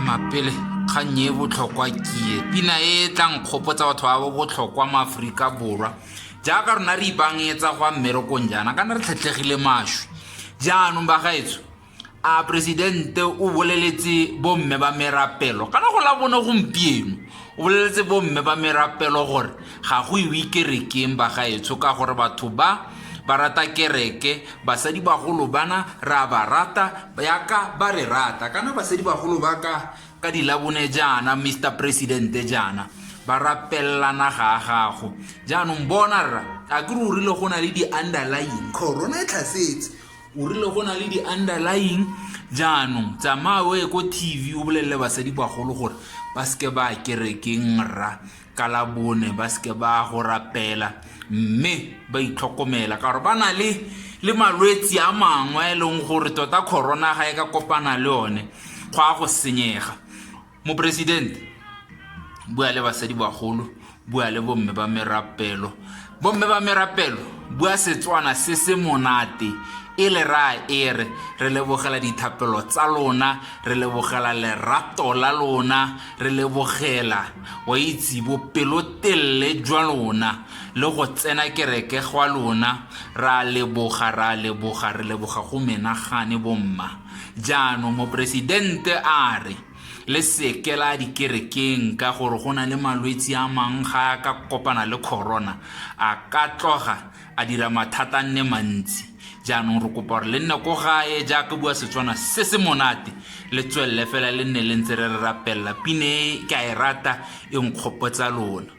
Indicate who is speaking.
Speaker 1: mapele kgang e botlhokwa kie pina e tla nkgopotsa batho ba bo botlhokwa mo aforika borwa jaaka rona re ipangetsa go a mmerekong jaana kana re tlhetlhegile maswi jaanong bagaetso a presidente o boleletse bomme ba merapelo kana go la bone gompieno o boleletse bomme ba merapelo gore ga go iwe kerekeng ba gaetsho ka gore batho ba ba rata kereke basadi bagolo bana ra ba rata yaka ba re rata kana basadi bagolo ba ka ka dilabone jaana mr presidente jaana ba rapelelana ga a gago jaanong bona rra a ke re o rile go na le di-underlying corona e tlhasetse o rile go na le di-underlying jaanong tsamaya o ye ko tv o bolelele basadi bagolo gore ba seke ba kerekeng rra ka la bone ba seke ba go rapela mme ba itlhokomela ka gore ba na le le malwetse a mangwe a e leng gore tota corona ga e ka kopana le one go a go senyega moporesidente bua le basadi bagolo bua le bomme ba merapelo bomme ba merapelo bua setswana se se monate e le raya e re re lebogela dithapelo tsa lona re lebogela lerato la lona re lebogela wa itse bopelotelele jwa lona le go tsena kereke gwa lona ra leboga ra leboga re leboga go menagane bomma jaanong moporesidente a re le seke la dikerekeng ka gore go na le malwetse a mangwe ga a ka kopana le corona a ka tloga a dira mathata nne mantsi jaanong re kopa gore le nne ko gae jaaka bua setswana se se monate le tswelele fela le nne le ntse re re rapelela pine e ke a e rata e nkgopotsa lona